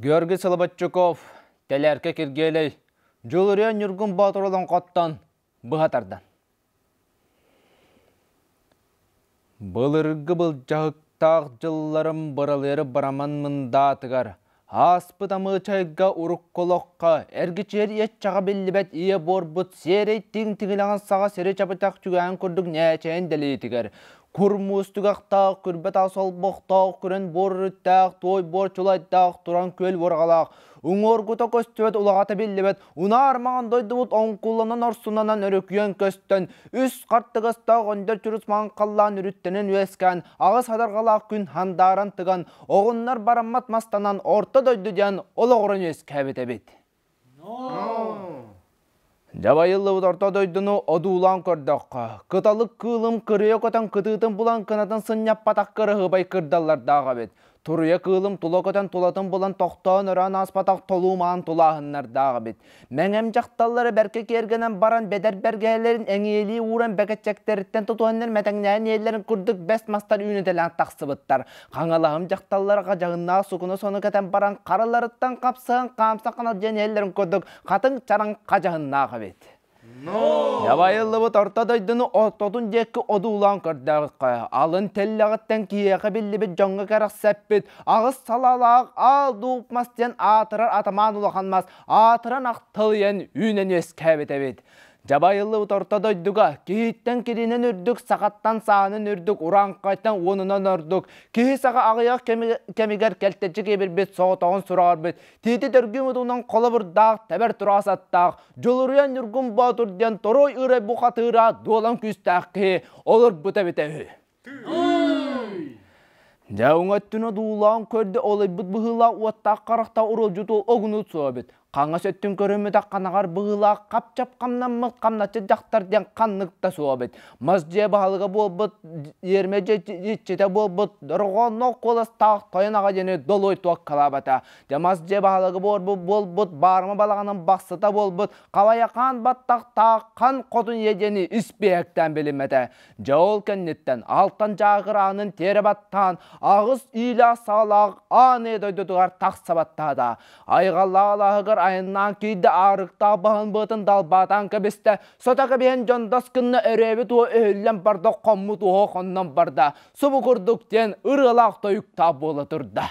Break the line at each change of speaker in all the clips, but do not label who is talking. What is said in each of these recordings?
Георгий Солобатчуков, Тэлээркэ Киргиэлэй, Дьулуруйан Ньургун Боотур олоҥхоттон быһа тардан. Былыргы былдьаһыктаах дьылларым быралыары бараман мындаатыгар, ааспыт амыычайга урукку олоххо, эргиччи иэччэҕэ биллибэт ийэ буорбут сиэрэй тиҥ тиҥилэҕин саҕа сири чабытах түгээн курдук ньээчэйин дэлиитигэр, кур муус тугахтаах, күрбэ таас олбохтоох күрэн буор үрүттээх, туой буор чулайдаах туран күөл уорҕалаах, уҥуоргута көстүбэт улаҕата биллибэт Унаар маҥан дойдубут оҥкулланан орсунанан өрүкүйэн көстөн, үс хартыгастаах өндөр чурус маҥан халлаан үрүттэнэн үөскээн, аҕыс хатарҕалаах күн хандааран тыган, оҕуннар бараммат мастанан орто дойду диэн олоҕуран үөскээбит эбит. Дьабайыллыбыт орто дойдуну одуулаан көрдөххө, кыталык кыылым кырыйа көтөн кытыытын булан кынатын сынньаппатах кыраһыабай кырдаллардаах эбит. Туруйа кыылым тула көтөн тулатын булан тохтоон өрөөн ааспатах толуумаан тулааһыннардаах эбит. Мэҥэм дьахталлары бэркэ киэргэнэн баран бэдэр бэргэһэлэрин эҥийэлии ууран бэкэччэктэриттэн тутуһаннар мэтэҥнээн иэллэрин курдук бэс мастар үүнүтэлээн тахсыбыттар. Хаҥалаһым дьахталлара дьаһыннаах сукуну сону кэтэн баран хараларыттан хапсыһан хаамса ханалдьан иэллэрин курдук хатыҥ чараҥ хадьаһыннаах эбит. Дабайыллыбыт орто дойдуну ортотун диэкки одуулаан көрдөөҕүххэ, алын тэллэҕиттэн киһиэхэ биллибит дьоҥҥо кэрэхсэппит аҕыс салалаах аал дууп мас диэн аатырар атамаан улахан мас аатыран ахтылыйан үүнэн үөскээбит эбит. Дьабайыллыбыт орто дойдуга киһиттэн киринэн үрдүк, сахаттан саанын үрдүк, урааҥхайтан уонунан ордук, киһи саха аҕыйах кэмигэр кэлтэччи киэбирбит соҕотоҕун сураҕырбыт, тиити төргүү мутунан холобурдаах, тэбэр тураҕас аттаах, Дьулуруйан Ньургун Боотур диэн Торой Ырай бухатыыра дуолан күүстээх киһи олорбута эбитэ үһү. Дьэ өттүнэ дуулаан көрдө олойбут быһыылаах уоттаах харахта уруолдьуту огнут суобит. Хаҥас өттүн көрүммүтэх ханаҕар быһыылаах хапчап хамнаммыт хамначчы дьахтар диэн ханнык да суобит. Мас дьиэ баһылыга буолбут иэрмэ дьиччитэ буолбут дорҕоонноох куоластаах тойон аҕа диэни долой туоккалаабата. Дьэ мас дьэ баһылыгы буолбут баарма балаҕанын бастыта буолбут Хабайахаан баттахтааххан хотун иэдьэни испиэһэктээн билиммэтэ. Дьэ ол кэнниттэн алтан дьаагыраанын тиэрэ баттаан аҕыс иилээх-саҕалаах ааны дойдутугар тахса баттаата. Айҕаллаах алааһыгар айаннаан киирдэ аарыктаах баһын быатын далбаатаан кэбистэ. Сото кэбиһэн дьондос кынна өрөөбүт уо өһүллэн барда хоммут уо хоннон барда. Субу курдук диэн ырыалаах тойуктаах буола турда.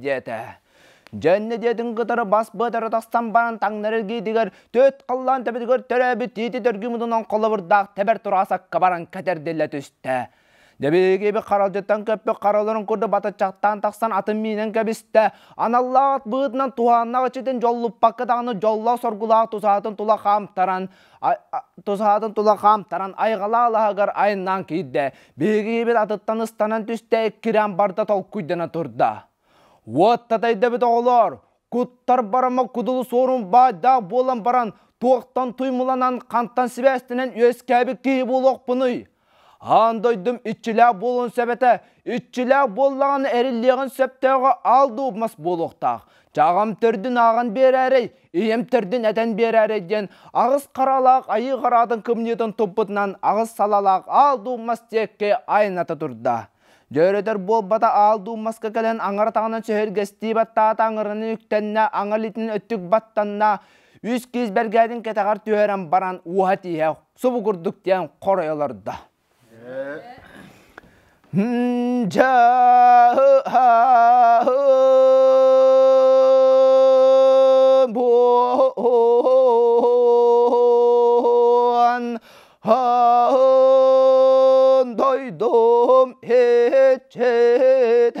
диэтэ. Дьэнни диэтин кытары бас быатары тастан баран таҥнар эргиитигэр төт халлаан төбөтүгэр төрөөбүт тиити дөргү мутунан холобурдаах тэбэр тураасакка баран кэтэрдиллэ түстэ. Дэ биһиги иби харалдьыттан көппүт хараларын курдук батыччахтаан тахсан атын миинэн кэбистэ. Аналлаах от быытынан туһааннах ичитин дьоллуппакка даҕаны дьоллоох соргулаах тусаатын тула хаамтаран тусаатын тула хаамтаран айҕалаа алаһыгар айаннаан киирдэ. Биһиги ибит атыттан ыстанан түстэ, иккирээн барда толкуйдана турда. Уот татайдабыт оҕолоор, куттар барама кудулу суорун баайдаах буолан баран, туохтан туймуланан, хантан сибээстэнэн үөскээбит киһи буолуохпунуй? Аан дойдум иччилээх буолуон сөбөтө, иччилээх буоллаҕына эриллиэҕин сөптөөҕө аал дуу мас буолуохтаах. Чаҕам төрдүн ааҕан биэрээрэй, ийэм төрдүн этэн биэрээрэй диэн аҕыс харалаах айыы хараатын кымньыытын туппутунан аҕыс салалаах аал дуу мас диэкки айната турда. Дьөрөтөр буолбата аал дуу маска кэлэн аҥара таҕынан сөһүргэстии баттаата аҥыраны үктэннэ аҥа илиитин өттүк баттанна, үс киис бэргээтин кэтэҕэр түһэрэн баран уоһа тииһэ субугурдук диэн хоруй олордо. Дойдум хечете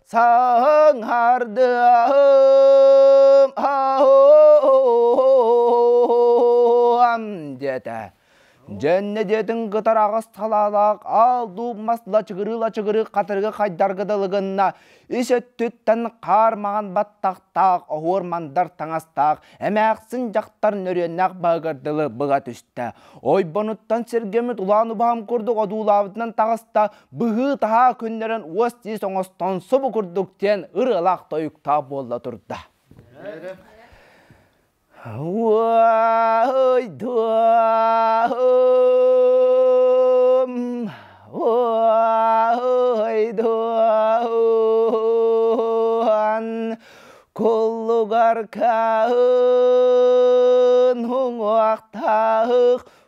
саһыҥһардыам аһыам диэтэ Дьэннэ диэтин кытараҕас талаалаах аал-дуу мас лачыгырыы-лачыгырыы хатырыгы хайдарга дылы гынна үс өттүттэн хаар маҥан баттахтаах оһуор мандар таҥастаах эмээхсин дьахтарын өрүөннээх баһыгар дылы быга түстэ ойбонуттан сэргэммит улаан убаһам курдук одуулаабытынан таҕыста быһыы-таһаа күннэрин уос-тиис оҥостон субу курдук диэн ырыалаах тойуктаах буолла турда. Уой-дум, уой-дун, куллугар каһын, уҥуохтаах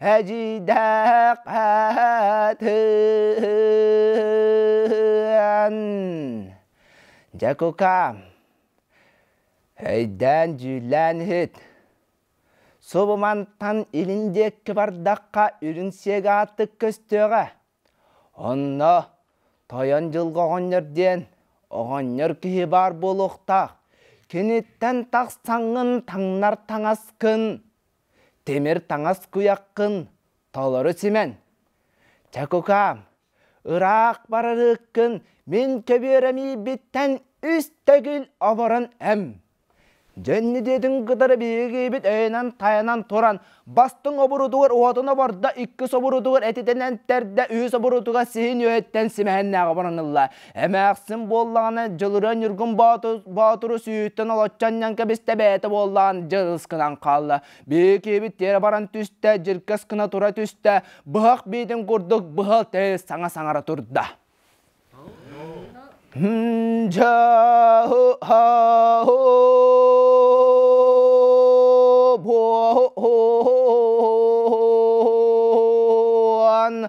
Эдьиийдэхпэтэн Дьэкукаам өйдөөн дьүүллээн иһит субу мантан илин диэкки бардахха үрүн сиэгэ аартык көстүөҕэ онно тойон дьылҕа оҕонньор диэн оҕонньор киһи баар буолуохтаах киниттэн тахсаҥҥын таҥнар таҥаскын Тимир таҥас куйаххын толору симэн. Чэ кукаам, ыраах барарыккын мин көбүөрэмийбиттэн үс төгүл оборон эм. Дьэнни диэтин кытары биһигибит өйөнөн-хайанан туран бастыҥ обурутугар уотун обордо иккис обурутугар этитэн энтэрдэ үһүс обурутугар сиһин үөһүттэн симэһиннээҕи обороннуллар. Эмээхсин буоллаҕына Дьылырыа Ньургун Боотуру сүүһүттэн олоччу анньан кэбистэ бэйэтэ буоллаҕын дьэ ыскынан хаалла. Биэкиэбит тиэрэ баран түстэ, дьиркэс гына тура түстэ, быһах биитин курдук быһыл тыас саҥа-саҥара турда. Дьаһу-һа-һу-бу-һу-һуан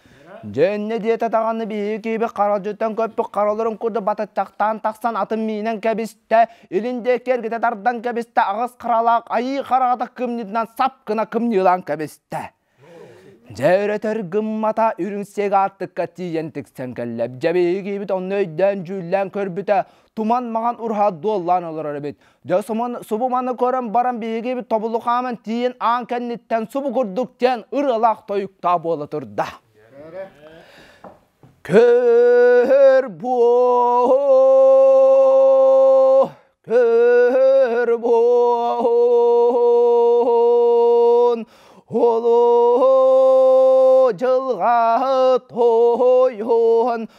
Дьэ иннэ диэтэ даҕаны биһиги киһибит харалдьыттан көппүт хараларын курдук батыттахтаан тахсан атын миинэн кэбистэ, илин диэки эргитэ тардан кэбистэ, аҕыс харалаах айыы хараҕата кымньыытынан сап гына кымньыылаан кэбистэ. Дьэ өрөтөр гыммата үрүҥ сиэг аартыкка тиийэн тиксэн кэллэ. Дьэ биһиги киһибит онно өйдөөн дьүүллээн көрбүтэ, туман маған урхаат дуоллаан олорор эбит. Дьэ субу маны көрөн баран биһиги бит тобулу хааман тиийин аан кэнниттэн субу курдук диэн ырылаах тойуктаа буола турда. Көр боо көр буон холу жылга тойон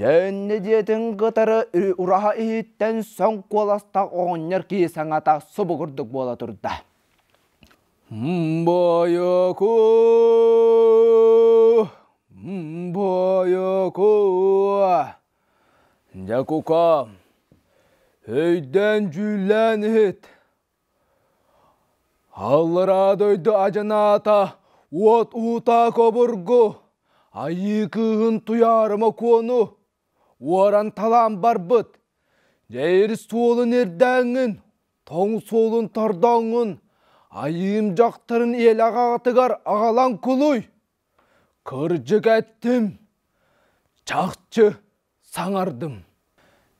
Дьөннө дьиэтин кытары ураһа иһиттэн соҥ куоластаах оҕонньор киһи саҥата субугурдук буола турда. «Мбойокуу! Мбойокуу! Дьэ кукам, өйдөөн дьүүллээн иһит. Аллараа дойду адьынаата уот уута кобургу, айыы кыыһын Туйаарыма Куону уоран талаан барбыт. Дьэир суолун ирдээҥҥин, тоҥ суолун тордооҥҥун, айыым дьахтарын иэлэҕэ аҕатыгар аҕалан кулуй. Кырдьык эттим, чахчы. саҥардым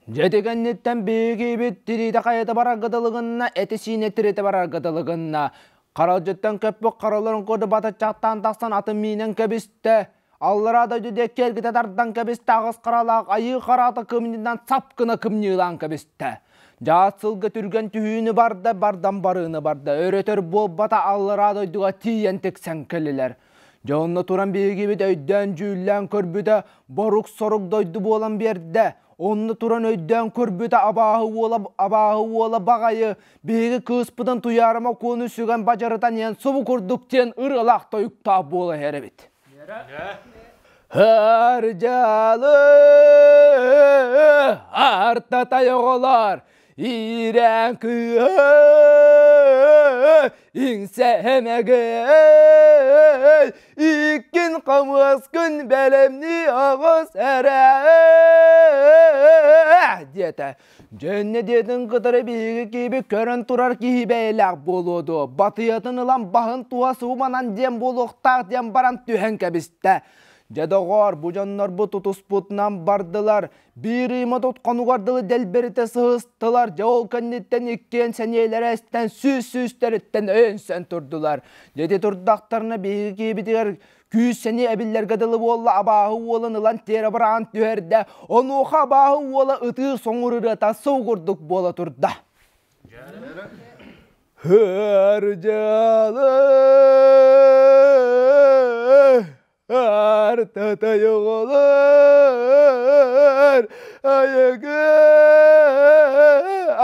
дьэти кэнниттэн биһигиибит тириитэ хайата барарга дылы гынна эти-сиини тиритэ барарга дылы гынна харалдьыттан көппүт хараларын курдук батыччахтаан тахсан атын миинэн кэбистэ аллараа дойду диэки эргитэ тардан кэбистэ аҕыс харалаах айыы хараата кымньыынан сап гына кымньыылаан кэбистэ дьаат сылга түргэн түһүүнү барда бардан барыыны барда өрөтөр буолбата аллараа дойдуга тиийэн тиксэн кэллилэр Дьэ онно туран биһигибит өйдөөн-дьүүллээн көрбүтэ борук-сорук дойду буолан биэрдэ. Онно туран өйдөөн көрбүтэ абааһы уола абааһы уола баҕайы биһиги кыыспытын Туйаарыма Куону сүгэн бадьарытан иһэн субу курдук диэн ырыалаах тойуктаах буола иһэр эбит. Һөр дьалы арта тайоҕолоор Иирэн кыыһы иҥсэмэгэй иккин хамыаскын бэлэмнии аҕыс эрэ диэтэ дьэннэ диэтин кытары биһиги киһибит көрөн турар киһи бэйэлээх буолуо дуо батыйатын ылан баһын туһа сууманан диэн буолуохтаах диэн баран түһэн кэбистэ дьэ доҕоор бу дьоннорбут утуспутунан бардылар Биир ыйма тутханугар дылы дэлбэритэ сыһыстылар, дьэ ол кэнниттэн иккиэн сэниэлэрэ эстэн сүүс-сүүстэриттэн өйөнсөн турдулар. Дьэти турдахтарына биһиги киэбитигэр күүс-сэниэ эбиллэргэ дылы буолла абааһы уолун ылан тиэрэ быраан түһэрдэ. Онуоха абааһы уола ытыы соҥур ырыата сылгурдук буола турда. Һөр дьалы Артатай оҕолор айыгы,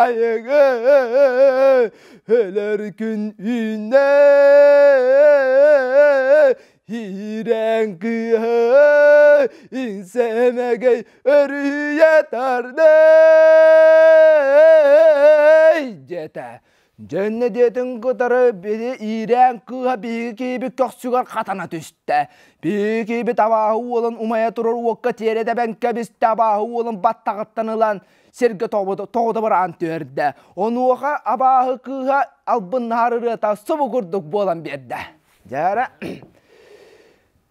айыгы өлөр күн үүннэ. Иирээн кыыһа иҥсэмэгэй өрүһүйэ тардар. Дьэтэ Дьэннэ диэтин кытары били иирээн кыыһа биһиги киһибит көхсүгэр хатана түстэ. Биһиги киһибит абааһы уолун умайа турар уокка тиэрэ тэбэн кэбистэ, абааһы уолун баттаҕыттан ылан сиргэ тоҕута быраҕан түһэрдэ. Онуоха абааһы кыыһа албыннаһар ырыата субу курдук буолан биэрдэ. Дьэ эрэ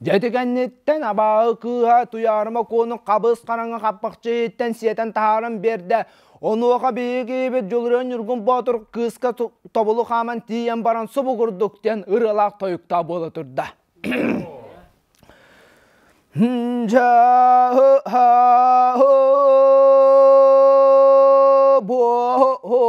Дьэти кэнниттэн абааһы кыыһа Туйаарыма Куонун хабыс хараҥа хаппахчы иһиттэн сиэтэн таһааран биэрдэ. Онуоха биһиги ийэбит Дьулуруон Ньургун Боотур кыыска тобулу хааман тиийэн баран субу курдук диэн ырыалаах тойуктаах буола турда. Дьаһы һаһы буон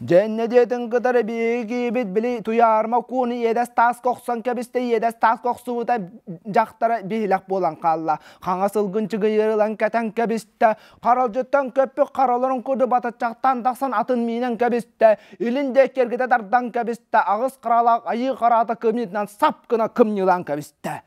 Дьэннэ диэтин кытары биһиги киһибит били Туйаарма кууну иэдэс тааска охсон кэбистэ, иэдэс тааска охсубута дьахтара биһилэх буолан хаалла. Хаҥас сылгын чыгыйырылан кэтэн кэбистэ, харалдьыттан көппүк хараларын курдук батаччахтаан тахсан атын миинэн кэбистэ, илин диэк кэргэтэ тардан кэбистэ, аҕыс кыралаах айыы хараата кымньыытынан сап гына кымньыылаан кэбистэ.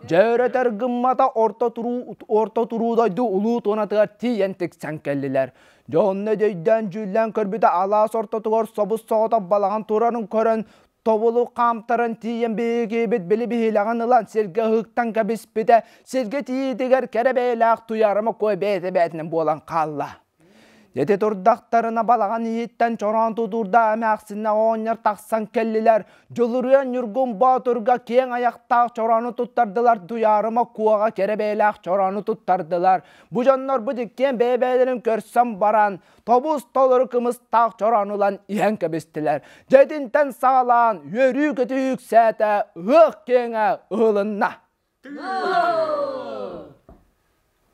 Дьөөрөтөр гыммата орто туруу, орто туруу дойду улуу туонатыгар тиийэн тиксэн кэллилэр. Дьэ онно өйдөөн дьүүллээн көрбүтэ алаас ортотугар собус-соҕотох балаҕан турарын көрөн тобулу хаамтаран тиийэн биһигиибит били биһилэҕин ылан сиргэ ыһыктан кэбиспитэ сиргэ тиийиитигэр кэрэ бэйэлээх Туйаарыма куой бэйэтэ-бэйэтинэн буолан хаалла. Ити турдахтарына балаҕан иһиттэн чороон тутуурда эмээхсиннэ оҕонньор тахсан кэллилэр. Дьулуруйан Ньургун Боотурга киэҥ айахтаах чороону туттардылар. Туйаарыма Куоҕа кэрэ бэйэлээх чороону туттардылар. Бу дьоннорбут иккиэн бэйэ-бэйэлэрин көрсөн баран, тобус-толору кымыстаах чороон ылан иһэн кэбистилэр. Дьэтинтэн саҕалаан үөрүү-көтүү үксээтэ, ыһыах киэҥэ ыһылынна.